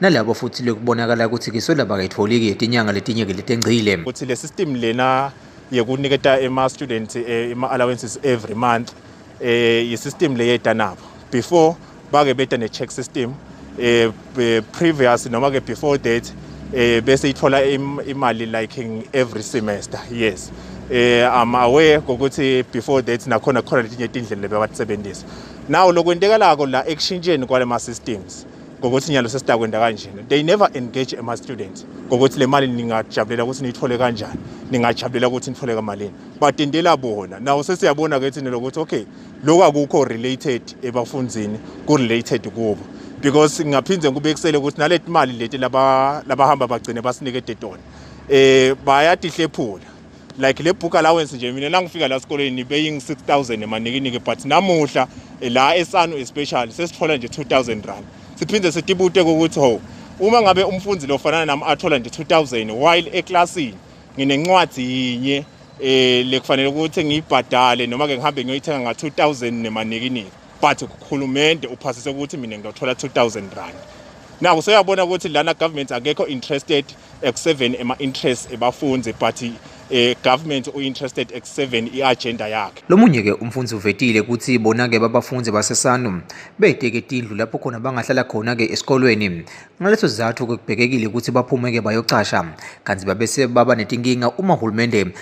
nalabo futhi lekubonakala ukuthi kiswela bakayitfoli-ke yetinyanga letinye-ke letengcile ukuthi le system lena yekuniketa ema-student eh, ama-allowances every month um eh, yi-system leyeta nabo before bake beta ne-check system um previous noma-ke before that um bese ithola imali like every semester yes um i'm aware kokuthi before that nakhona khona letinye tindlela lebebatisebenzisa nawo lokwentekalako la ekushintsheni kwale ma-systems ngokuthi nyalo sesidakwenda kanjena they never engage ama students ngokuthi le mali ningajabulela ukuthi niyithole kanjani ningajabulela ukuthi nithole kamalini badindela bona nawo sesiyabona ke thina lokuthi okay lokho akukho related ebafundzini ku related kubo because ngingaphinde ngikubekisele ukuthi naleti mali leti laba labahamba bagcine basinike tetona eh bayatihlephula like le book allowance nje mina nangifika la sikoleni nibeying 6000 emanikiniki but namuhla eh, la esanu especially sesithola nje 2000 rand siphinde sitibute ukuthi ho uma ngabe umfundi lofanana nami athola nje 2000 while eclassini nginencwadi yinye eh lekufanele ukuthi ngiyibhadale noma ke ngihambe ngiyoyithenga nga 2000 nemanikiniki but ukhulumende uphasise ukuthi mina ngiyothola 2000 rand naku soyabona ukuthi lana government akekho interested ekuseveni ema interests ebafundi but eh government u interested ekuseveni i agenda yakhe lomunye ke umfundi uvetile ukuthi bona ke babafundi basesanu beteke tindlu lapho khona bangahlala khona ke esikolweni ngaleso sizathu ke kubhekekile ukuthi baphume ke bayocasha kanti babese baba netinkinga uma uhulumende